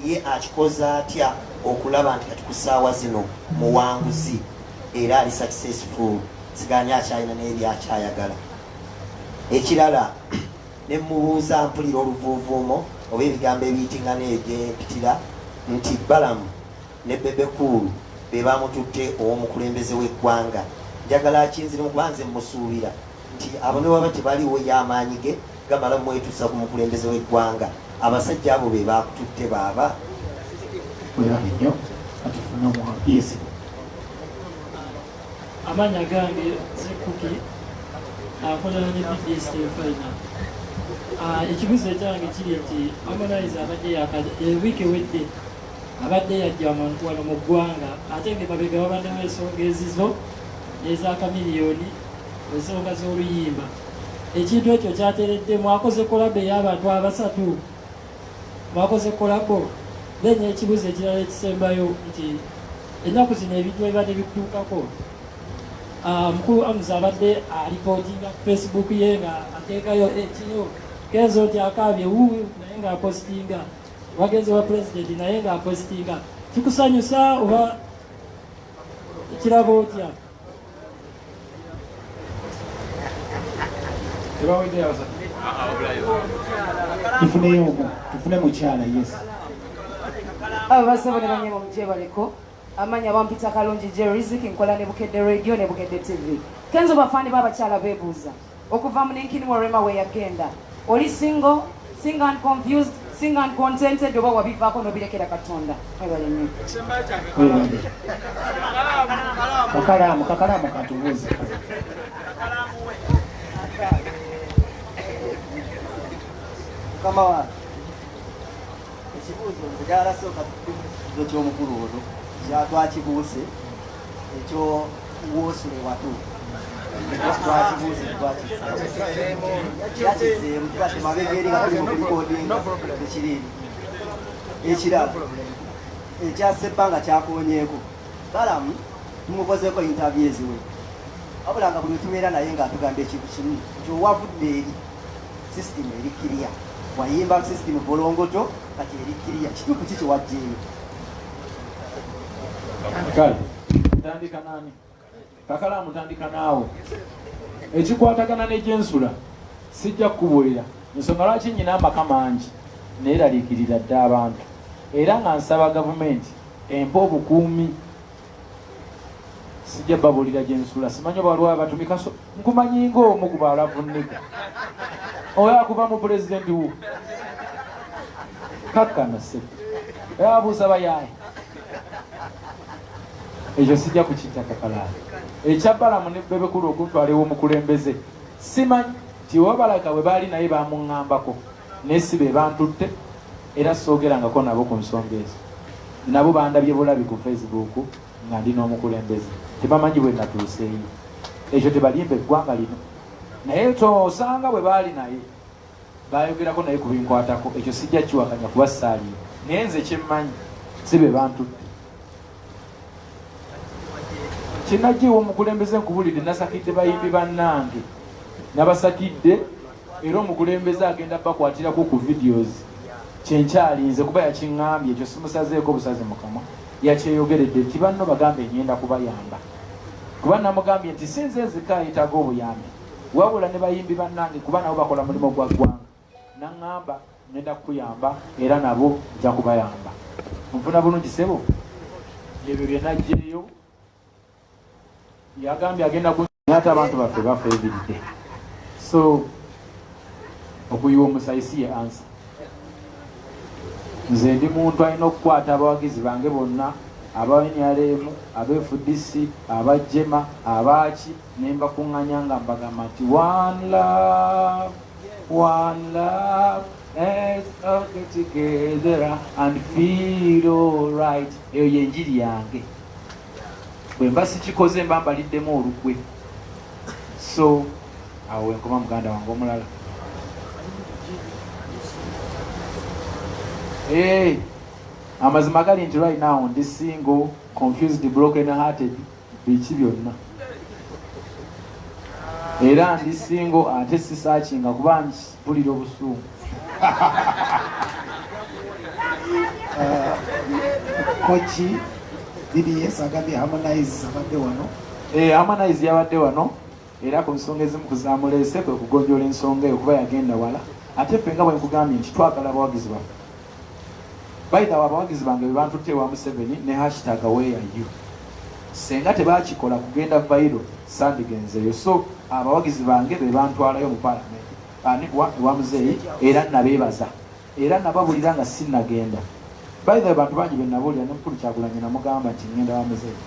ye akikoze atya okulaba nti kati ku ssaawa zino muwanguzi era ali successful siganya akyalina naye byakyayagala ekirala ne mubuuza mpulira oluvuuvuumo oba ebigambo ebiyitingana eyo gyempitira nti balamu ne bebekuulu be bamututte ow'omukulembeze w'eggwanga njagala akinzirimu kuba nze musuubira nti abo ne waba tebaliwo ye amaanyi ge gamala mwetusa ku mukulembeze w'eggwanga abasajja abo be baakututte baaba werabe nnyo atufuna omuwapiisi amaanyi agange zikuki akolana ne pds tefalina ah, ekibuzo ekyange kiri nti harmonize abadde ewiiki ewedde abadde yajja wano mu ggwanga ate nge babega babaddewo ensonga ezizo ez'akamiliyoni ensonga z'oluyimba ekintu ekyo kyateredde mwakoze kolabo ey'abantu abasatu mwakoze kolabo then ekibuzo ekirala ekisembayo nti ennaku zino ebintu ebibadde bikutuukako ah, mukulu amuzi abadde alipotinga ku facebook ye nga ateekayo ekino eh, kenzo nti akaabye wu naye ng'apositinga wagenze wa pulezidenti naye ng'apositinga kikusanyusa oba kiraba otya tufuneyo omu tufune mukyala yes abo basaba ne banyama mujebaleko amanya bampita kalungi jeriziki nkola ne bukedde radio ne bukedde tv kenzo bafani babakyala bebuuza okuva mu ninkini wa rema weyagenda oli single single and confused single and contented oba wabivaako nobirekera katonda ebalenyo kakalaamu kakalaamu katubuuze mukama wange ekibuuzo nze gyarasooka kibuuzo ky'omukulu ono kyatwakibuuse ekyo wosule watu ekirala ekyasebba nga kyakonyeeko balamu tumukozeeko intavye eziwe wabula nga buli wetubeera naye nga atugamba ekintu kimu nti owavudde eri sisitimu eri kiriya wayimba sisitimu bolongoto kati eri kiriya kituufu ki kiwajjeeyo kale ntandika nani kakala mutandika naawe ekikwatagana negyensula sijja kukubuulira nsonga lwaki nyina amaka mangi neeraliikirira dda abantu era nga nsaba gavumenti empa obukuumi sijja babuulira gye nsula simanyi oba waliwo abatumikaso nkumanyi ng'omu ku baalavunnega oyo akuva mu pulezidenti wo kakkana se era abuuza bayaaye ekyo sijja kukitakakalaala ekya balamu ne bebekulu okuntwalewo omukulembeze simanyi tiwabalaka bwe baali naye bamuŋŋambako naye si be bantutte era soogerangako nabo ku nsonga ezo. Nabo bandabye bulabi ku Facebook nga ndi n'omukulembeze. Tebamanyi bwe natuuseeyo. Ekyo tebalimba eggwanga lino. Naye osanga bwe baali naye baayogerako naye ku binkwatako. Ekyo sijja kiwakanya kuba ssaaliyo. Naye nze kye mmanyi si be bantutte. kinajiwa omukulembeze nkubulidde nasakidde bayimbi bannange nabasakidde era omukulembeze agenda bakwatirako ku videos kyenkyalinze kuba yakiŋambye ekyo simusazeeko obusazi mukamwa yakyeyogeredde nti banno bagambe enyenda kubayamba kuba namugambye nti sinze nzika yetaga obuyambi wabula ne bayimbi bannange kuba nabo bakola mulimu gwa ggwanga Nangamba ngenda kukuyamba era nabo nja kubayamba. Onfuna bulungi sebo? Ebyo bye najjeeyo yagambye agenda ku ate abantu baffe bafa ebiridde so okuyiwa omusayi si ye ansa nze ndi muntu alina okukwata abawagizi bange bonna aba nrm abfdc abajema abaaki nembakuŋŋanya nga mbagamba nti wanla One love, let's all get together and feel alright. Eyo yenjiri yange. Bwe mba sikikoze mba mbaliddemu olukwe. So, awo wenkoma muganda wange omulala. Hey, amazima gali nti right now ndi single, confused, broken hearted. biki byonna era ndi singo ate sisakinga kuba mpulira obusungu uh, koki bds agambye harmonize abadde wano eh, harmonize yabadde wano era ku nsonga ezimu kuzamuleese kwe kugonjola ensonga eyo kuba yagenda wala ate ffe nga bwenkugambye nti twagala abawagizi baffe By the way, abawagizi bange bebantutte ewa Museveni ne hashtag where are you. Senga tebakikola kugenda viral sandigenzeeyo. So abawagizi bange bebantwalayo mu parliament anigwa ewa muzeeyi era nabeebaza era nababulira nga sinnagenda. By the way, bantu bangi benabuulira ne mukulu Kyagulanyi namugamba nti ngenda wa muzeeyi.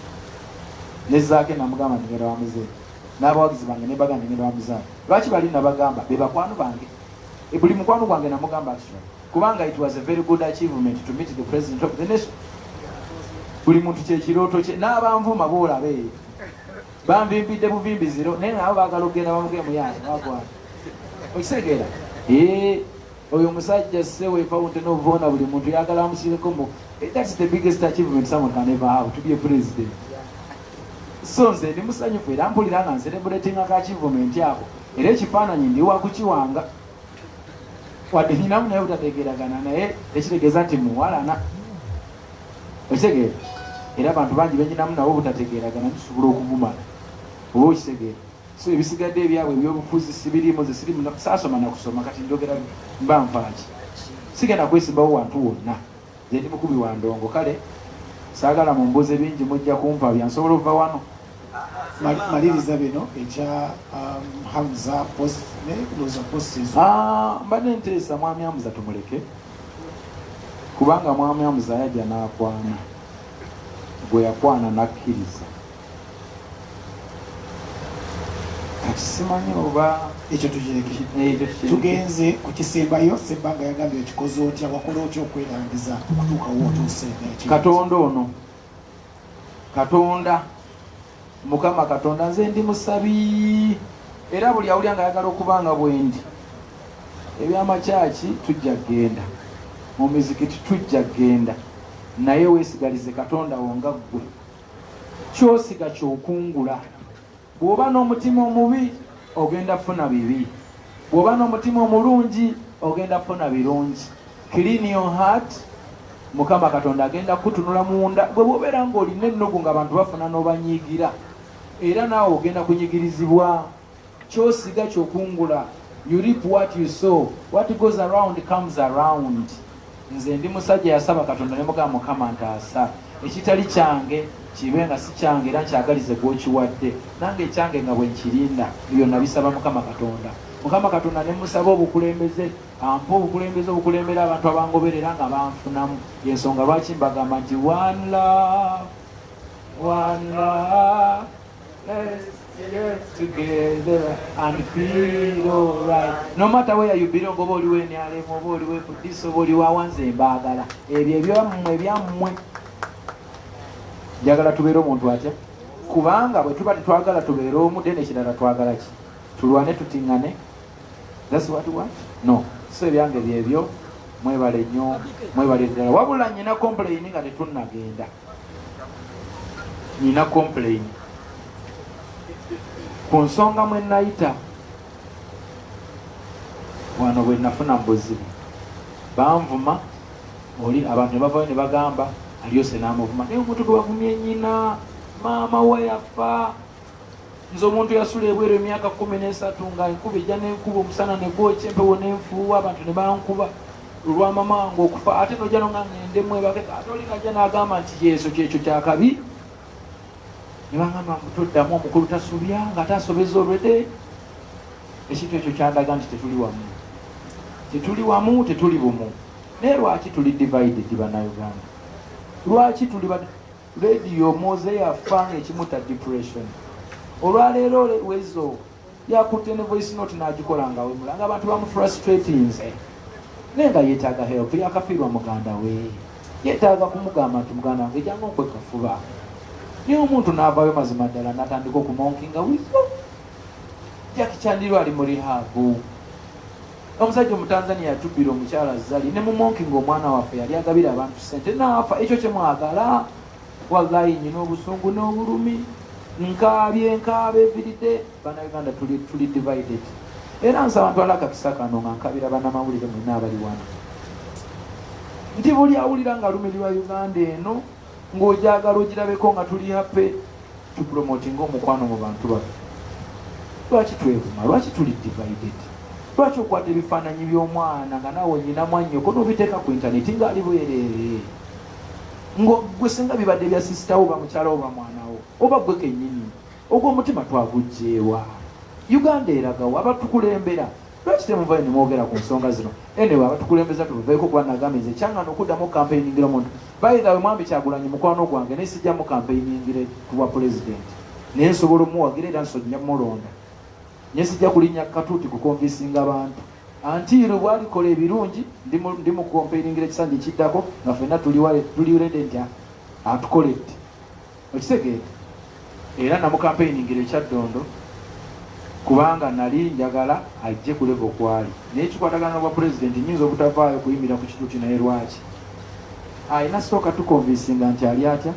Ne Zaake namugamba nti ngenda wa muzeeyi. N'abawagizi bange nebaga nti ngenda wa muzeeyi. Lwaki bali nabagamba? Bebakwano bange. E buli mukwano gwange namugamba kino kubanga it was a very good achievement to meet the president of the nation buli muntu kyekirooto kye n'abanvuma boolaba eyo banvimbidde buvimbi ziro naye nabo bagala okugenda bamugemuyaani wagwa okitegeera ee oyo omusajja se wefawunte novoona buli muntu yagala amusireko mu eh, thats the biggest achievement someone can ever have to be a president so nze ndi musanyufu era mpulira nga nserebulatinga ka achievement ako era ekifaananyi ndi wakukiwanga wadde ninamu naye butategeragana naye ekitegeeza nti muwalana ekitegeera era abantu bangi benyinamu nabo butategeragana tusobola okugumala oba okitegeera so ebisigadde ebyabwe ebyobufuzi sibirimu zesirimu saasoma nakusoma kati njogera mba nfaaki sigenda kwesimbawo wantu wonna Nze ndi mukubi wa ndongo kale saagala mumbuuze bingi mujja kumpabya nsobola okuva wano. Maliriza bino ekya um, Hamza post ne loza post ezo. Ah, mbadde nteesa mwami Hamza tumuleke kubanga mwami Hamza yajja n'akwana gwe yakwana n'akkiriza. simanyi oba ekyo tugenze ku kisembayo sebbanga yagambye okikoze otya wakola otya okwerangiza okutuukawo otuuse katonda ono katonda mukama katonda nze ndi musabi era buli awulya nga ayagala okuba nga bwendi ebyamakyaki tujja kgenda mu mizikiti tujja kgenda naye wesigalize katonda wo nga ggwe kyosiga kyokungula bwoba n'omutima omubi ogenda funa bibi bwoba n'omutima omulungi ogenda funa birungi clean your heart mukama katonda agenda kutunula munda gwe bwobeera ngaolina ennugu nga abantu bafuna n'obanyiigira era naawe ogenda kunyigirizibwa Kyosiga kyokungula you reap what you sow what goes around comes around nze ndi musajja yasaba katonda nemugamba mukama ntaasa ekitali kyange kibe nga si kyange era nkyagalize gwokiwadde nange ekyange nga bwenkirinda ebyo nabisaba mukama katonda mukama katonda nemusaba obukulembeze ampa obukulembeze obukulembera abantu abangoberera nga banfunamu yensonga lwaki mbagamba nti one love one love Let's get together and feel alright. No matter where you belong, oba oliwo enyalemu, oba oliwo efudisi, oba oliwo awanze embaagala. Ebyo ebyammwe ebyammwe. Njagala tubeere omuntu atya? Kubanga bwe tuba tetwagala tubeere omu, then ekirala twagala ki? Tulwane tutingane. That's what we want? No. So ebyange byebyo mwebale nnyo, mwebale ddala. Wabula nyina complain nga tetunnagenda. nina complain ku nsonga mwe nayita wano bwe nafuna mu buzibu banvuma oli abantu ne bavayo ne bagamba aliyose n'amuvuma naye omuntu gwe bavumye nyina maama we yafa nze omuntu yasula ebweru emyaka kumi n'esatu nga enkuba ejja n'enkuba omusana ne gwokya empewo n'enfuuwa abantu ne bankuba lwa mamange okufa ate noja no nga ngende mwebake katoli naja nagamba nti yesu kyekyo kyakabi nebangamba mutoddamu omukulu tasubya nga ate asobeza olwede ekintu ekyo kyandaga nti tetuli wamu tetuli wamu tetuli bumu naye lwaki tuli divided banauganda lwaki tuli radio moze yafa nga ekimuta depression olwaleero wezo yakutte ne voice note n'agikola nga wemula nga abantu bamufrustratinze naye nga yeetaaga help yakafiirwa muganda we yeetaaga kumugamba nti muganda wange janga okwekafuba naye omuntu n'avayo mazima ddala natandika okumonkinga wiyo jakichandirwa ali mu rihabu omusajja omutanzania yatubbira omukyala zali ne mumonkinga omwana waffe yali agabira abantu sente naafa ekyo kyemwagala Wallahi nyina obusungu n'obulumi nkaabye nkaaba eviride banauganda tuli, tuli divided era nsaba ntwala akakisa kano nga nkabira banamawulire mwena abali wano nti buli awulira nga lumirirwa uganda eno ng'ojagala ogirabeko nga tuli hape tupromotinga omukwano mu bantu baffe lwaki twevuma lwaki tuli divided lwaki okwata ebifaananyi by'omwana nga naawe nyina mwanyoko n'obiteeka ku intaneti ng'ali bwereere ngwe singa bibadde bya sisitawo oba mukyalawo oba mwanawo oba gwe kenyini ogwomutima twagujjeewa uganda eragawo abatukulembera lwaki temuvayo nemwogera ku nsonga zino enewe abatukulembeza tubaveeko kuba nagambye nze kyangana okuddamu kampeyiningiro omuntu bayithawe mwami kyagulanyi mukwano gwange naye sijjamu kampeyiningire kubwa pulezidenti naye nsobola omuwagira era nsonja mulonda naye sijja kulinnya katuuti kukonvisinga bantu Antiiro bwalikola ebirungi ndimukompeiringira ekisanja ekiddako nga fenna tuliurede nti atukoledde okitegeera era namukampeiningira ekyaddondo kubanga nali njagala ajje kuleva okwali naye kikwatagana bwa pulezidenti nyinza obutavaayo kuyimira ku kituti naye lwaki alina sooka tukonvinsinga nti ali atya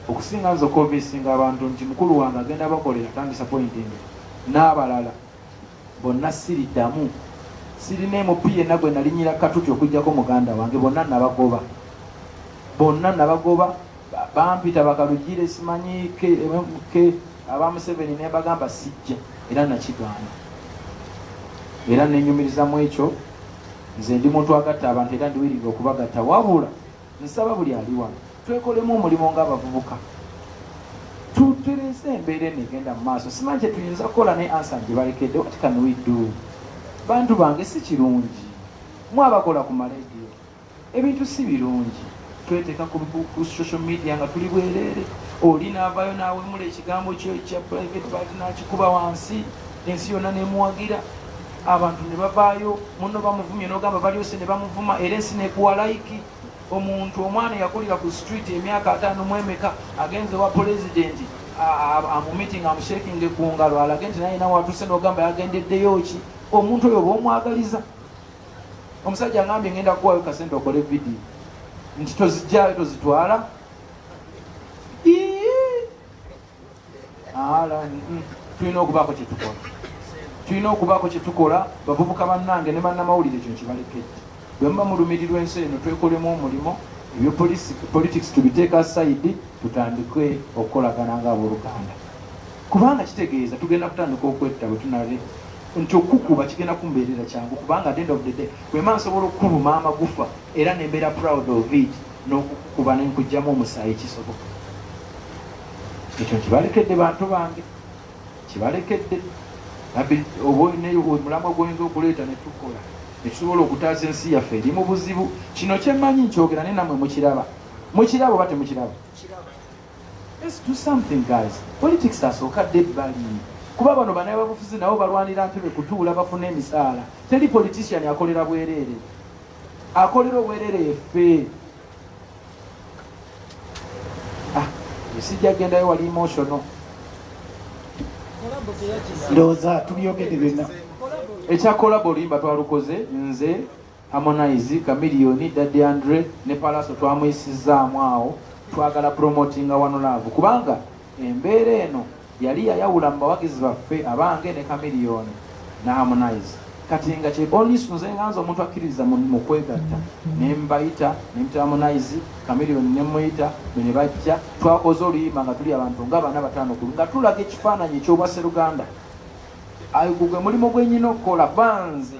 okusinga nze okonvinsinga abantu nti mukulu wange agenda bakolera tandisapointinga n'abalala bonna siriddamu sirina emupi yenna gwe nalinyira katuti okujjako muganda wange bonna nabagoba bonna nabagoba bampita bakalugire simanyi ke aba museveni nebagamba sijja era nakigaana era nenyumirizamu ekyo nze ndi muntu agatta abantu era ndiwirirwa okubagatta wabula Nsaba buli ali wano twekolemu omulimu ng'abavubuka tutereze embeera eno egenda mu maaso. Simanyi kye tuyinza kukola ne ansa gye balekedde what can we do? Bantu bange si kirungi mwe abakola ku malediyo ebintu si birungi tweteka ku social media nga tuli bwereere oli naavayo nawemula ekigambo kyo ekya private part nakikuba wansi ensi yonna nemuwagira abantu ne bavaayo munno bamuvumye n'ogamba balyose ne bamuvuma era ensi nekuwa layiki omuntu omwana eyakulira ku street emyaka ataano mu emeka agenze wa pulezidenti amumitinga amushekinge ku ngalo alage nti naye nawe atuuse n'ogamba yagendeddeyo ki omuntu oyo oba omwagaliza omusajja ngambye ngenda kuwayo kasente okole vidiyo nti tozijjayo tozitwala tulina okubaako kyetukola tulina okubaako kyetukola bavubuka bannange ne bannamawulire kino kibalekedde bwe muba mulumirirwa ensi eno twekolemu omulimu ebyo politics tubiteeka saidi tutandike okukolagana nga aboluganda kubanga kitegeeza tugenda kutandika okwetta bwe tunale nti okukuba kigenda kumbeerera kyangu kubanga at end of the day wema nsobola okukuluma amagufa era nembeera proud of it n'okukuba nenkugjamu omusaayi kisoboka ekyo kibalekedde bantu bange kibalekedde omulamwa gwoyinza okuleeta netukola ekisobola okutaasa ensi yaffe eri mu buzibu kino kyemanyi nkyogera naye namwe mukiraba mukiraba oba temukiraba politics asooka dde ebbali kuba bano banaye babufuzi nabo balwanira ntebe kutuula bafuna emisaala teri politician akolera bwereere akolera obwereere yeffe ah, sijja gendayo wali emotional ndowooza tubyogedde byonna ekya kolabo olimba twalukoze nze harmonize kamiliyoni daddy andre ne palaso twamuyisizzaamu awo twagala promotinga wano laavu kubanga embeera eno Yali yayawula mu bawagizi baffe abange ne Chameleone ne Harmonize kati nga kye onisi nze nga nze omuntu akkiririza mu kwegatta ne mbayita ne mita Harmonize Chameleone ne muyita be ne bajja twakoze oluyimba nga tuli abantu nga bana batano kulu nga tulaga ekifaananyi eky'obwasseruganda ayo gugwe mulimu gwenyina okukola banze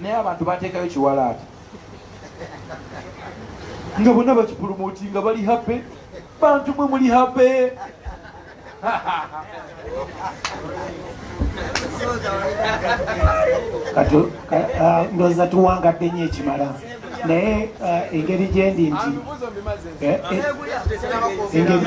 naye abantu bateekayo kiwalaata nga bonna bakipulumuti nga bali hape bantu mwe muli hape ah, ndoza tuwangadde nyo ekimala naye ah, engeri gyendi nti eh, eh, engeri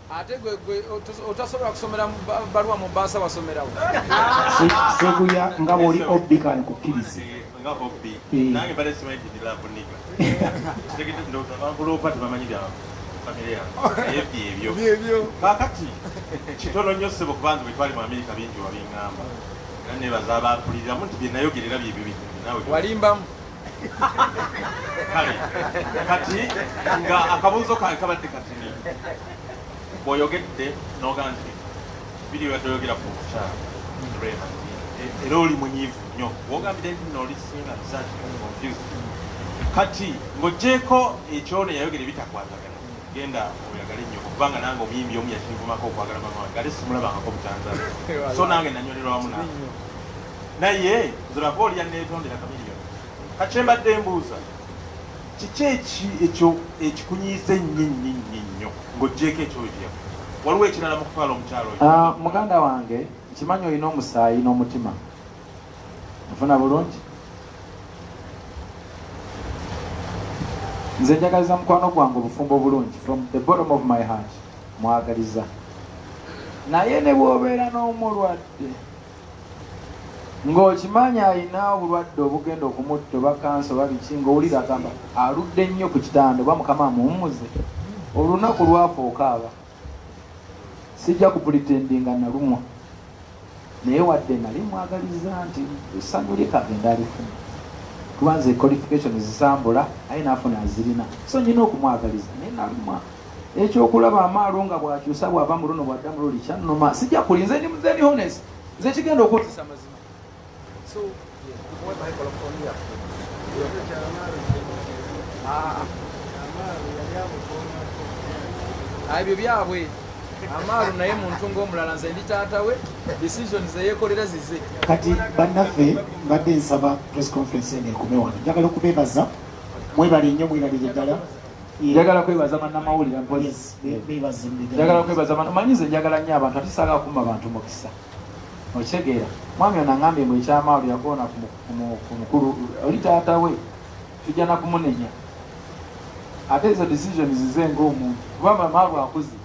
ate gwe otasobola kusomera baluwa mu baasa wasomerawo seguya nga bwoli obbi kani kukkirize ebyo kakati kitono nnyo ssebo kubanza bwetwali mu amerika bingi wabiŋŋamba era nebaza abampuliriramu nti byenayogerera byebyo bingi nawe walimbamu kale kati nga akabuuzo kange kabadde katini bwoyogedde nogaa nti biri byatoyogera ku mukyala era oli munyivu nnyo wogambire nti nooli singa zaki confused kati ng'ogyeko ekyona yayogera ebitakwatagana genda oyagale nnyo kubanga nange omuyimbi omu yakinvumako okwagala mama wange ate simulabangako butanzala so nange nanyonera wamu nange naye nziraba olya netondera kamiliyo kakyembadde embuuza kiki eki ekyo ekikunyiiza ennyo ennyo ennyo ennyo ng'oggyeeko ekyoyo kyeyaku waliwo ekirala mu kutwala omukyalo oyo Ah, muganda wange nkimanyi olina omusaayi n'omutima nfuna bulungi nze njagaliza mukwano gwange obufumbo obulungi from the bottom of my heart mwagaliza naye ne bwobeera n'omulwadde ng'okimanyi alina obulwadde obugenda okumutta oba kansa oba biki ng'owulira agamba aludde nnyo ku kitanda oba mukama amuwummuze olunaku lwafa okaaba sijja kupulitendinga nalumwa naye wadde nali mwagaliza nti essanyu lye kagenda alifuna kuba nze qualification zisambula aye nafuna azirina so nyina okumwagaliza naye nalumwa ekyokulaba amaalo nga bwakyusa bwava mu luno bwadda mululi kyannuma sijja kuli nze ndimuzeni hones nze kigenda okuwozesa amazima ebyo byabwe amaalo naye muntu ngaomulala nze ndi taata we decision zeyekolera zize kati bannaffe mbadde nsaba press conference eno ekume wano njagala okubebaza mwebale nnyo mwebalire ddala njagala kwebaza bannamawulire poliisi njagala kwebaza bantu manyi nze njagala nnyo abantu ate saagala kumba bantu mukisa okitegeera mwami ono angambye mbu ekyamaalo yakoona ku mukulu oli taata we tujja nakumunenya ate ezo decisions zize ngaomuntu kuba mamaalo akuze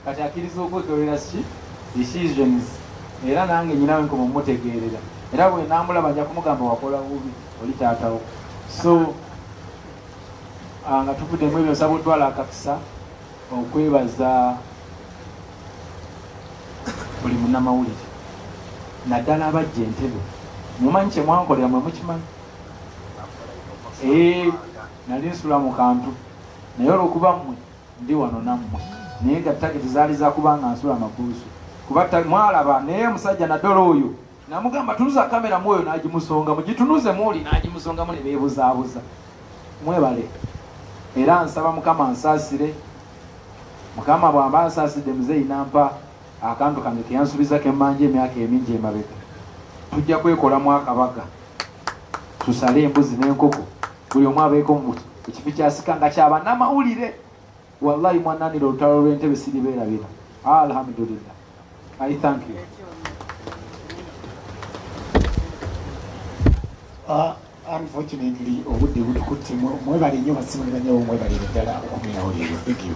Kati akiriza okwetolera ki decisions era nange nyinawe nkoma omutegeerera era bwenamulaba nja kumugamba wakola bubi oli taatawo so ah, nga tuvuddemu ebyo nsaba otwala akakisa okwebaza buli munamawulire naddala abajja entebe mumanyi kyemwankolera mwe mukimanyi eh, nali nsula mu kantu naye olwokuba mmwe Ndi wano nammwe. Naye nga takiti zaali za kuba nga nsula amakuusu. Kuba mwalaba naye omusajja naddala oyo namugamba tunuza kamera mwoyo n'agimusonga mugitunuze muuli n'agimusonga mu ne beebuzaabuza. Mwebale era nsaba Mukama ansaasire. Mukama bw'amba ansaasidde muzeeyi nampa akantu kange ke yansubiza ke mmanja emyaka emingi emabega. Tujja kwekolamu akabaga tusale embuzi n'enkoko buli omu abeeko mu ekifi kyasika nga kyaba namawulire wallahi mwananira olutalo lwentebe siribeerabira alhamdulillah i thank you uh, unfortunately obudde butukutte mwebale nnyo basimuliranyawo mwebalire ddala okumirawo leero thank you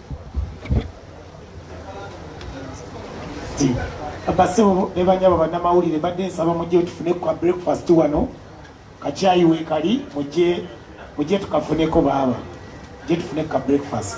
basebo ne banyabo bannamawulire mbadde nsaba mujje tufune kwa breakfast wano kakyayi weekali mujje mujje tukafuneko baaba mujje tufune ka breakfast